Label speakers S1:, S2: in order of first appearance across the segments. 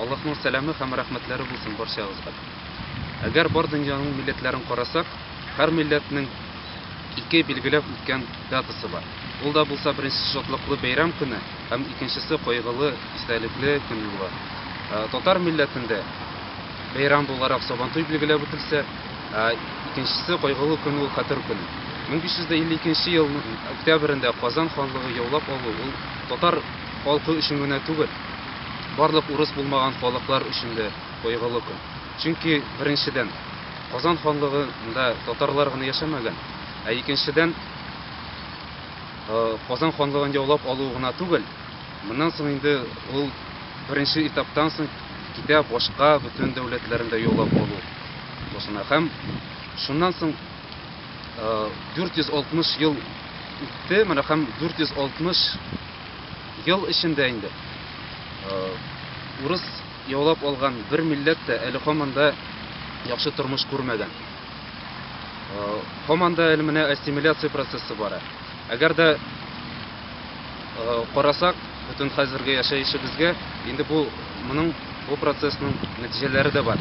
S1: Аллаһның сәламе һәм рәхмәтләре булсын барчагызга. Әгәр бар дөньяның милләтләрен карасак, һәр милләтнең ике билгеләп үткән датасы бар. Ул да булса беренче шатлыклы бәйрәм көне һәм икенчесе кайгылы, истәлекле көн була. Ә, татар милләтендә бәйрәм буларак Сабантуй билгеләп үтелсә, ә, икенчесе кайгылы көн ул Хәтер көне. 1552 елның октябрендә Казан ханлыгы яулап алу ул татар Халкы өчен генә түгел, барлык урыс булмаган халыклар өчен дә кайгылы көн. Чөнки, беренчедән, Казан ханлыгында татарлар гына яшәмәгән, ә икенчедән, Казан ханлыгын яулап алу гына түгел, моннан соң инде ул беренче этаптан соң китә башка бөтен дәүләтләрен дә яулап алу башына. Һәм шуннан соң 460 ел үтте, менә һәм 460 Ел эчендә инде урыс яулап алган бер милләт тә әле һаман да яхшы тормыш күрмәгән. Һаман да әле менә ассимиляция процессы бара. Әгәр дә карасак, бөтен хәзерге яшәешебезгә инде бу моның бу процессның нәтиҗәләре дә бар.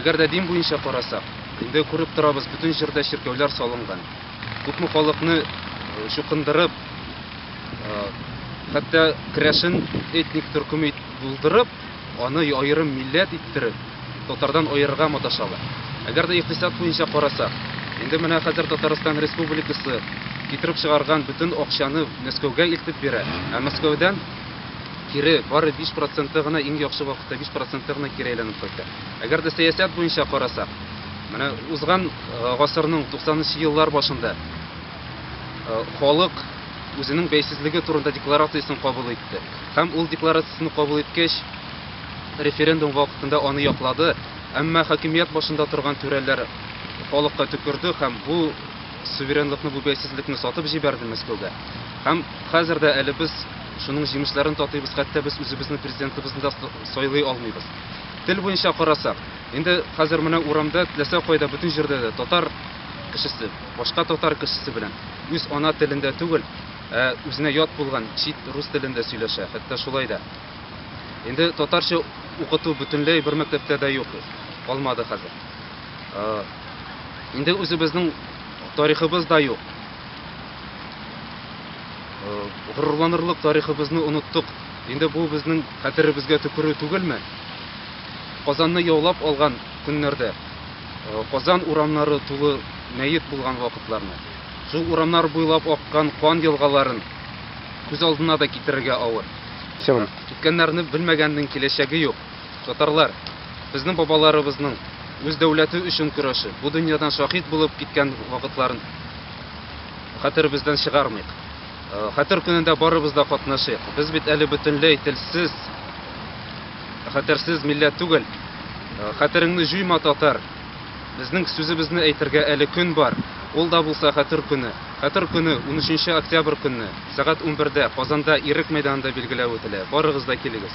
S1: Әгәр дә дин буенча карасак, инде күреп торабыз, бөтен җирдә чиркәүләр салынган. Күпме халыкны чукындырып, хәтта керәшен этник төркем ит булдырып, аны аерым милләт иттереп, татардан аерырга маташалар. Әгәр дә икътисад буенча карасак, инде менә хәзер Татарстан Республикасы китереп чыгарган бөтен акчаны Мәскәүгә илтеп бирә, ә Мәскәүдән кире бары 5 проценты гына иң яхшы вакытта 5 проценты гына кире әйләнеп кайта. Әгәр дә сәясәт буенча карасак, Менә узган гасырның 90-нчы еллар башында халык үзенең бәйсезлеге турында декларациясен кабул итте. Һәм ул декларациясен кабул иткәч, референдум вакытында аны яклады, әмма хакимият башында торган түрәләр халыкка төкерде һәм бу суверенлыкны, бу бәйсезлекне сатып җибәрде Мәскәүгә. Һәм хәзер дә әле без шуның җимешләрен татыйбыз, хәтта без үзебезнең президентыбызны да сайлый алмыйбыз. Тел буенча карасак, Инде хәзер менә урамда, теләсә кайда, бөтен җирдә дә татар кешесе, башка татар кешесе белән үз ана телендә түгел, ә үзенә ят булган чит рус телендә сөйләшә, хәтта шулай да. Инде татарча укыту бөтенләй бер мәктәптә дә юк, калмады хәзер. Инде үзебезнең тарихыбыз да юк. Горурланырлык тарихыбызны оныттык. Инде бу безнең хәтеребезгә төкерү түгелме? Казанны яулап алган көннәрдә, Казан урамнары тулы мәет булган вакытларны, шул урамнар буйлап аккан кан елгаларын күз алдына да китерергә авыр. Киткәннәрне белмәгәннең киләчәге юк. Татарлар, безнең бабаларыбызның үз дәүләте өчен көрәше, бу дөньядан шаһит булып киткән вакытларын хәтеребездән чыгармыйк. Хәтер көнендә барыбыз да катнашыйк. Без бит әле бөтенләй телсез, хәтерсез милләт түгел. Хәтереңне җуйма, татар. Безнең сүзебезне әйтергә әле көн бар. Ул да булса хәтер көне. Хәтер көне 13 октябрь көнне, сәгать 11-дә Казанда Ирек мәйданында билгеләп үтелә. Барыгыз да килегез.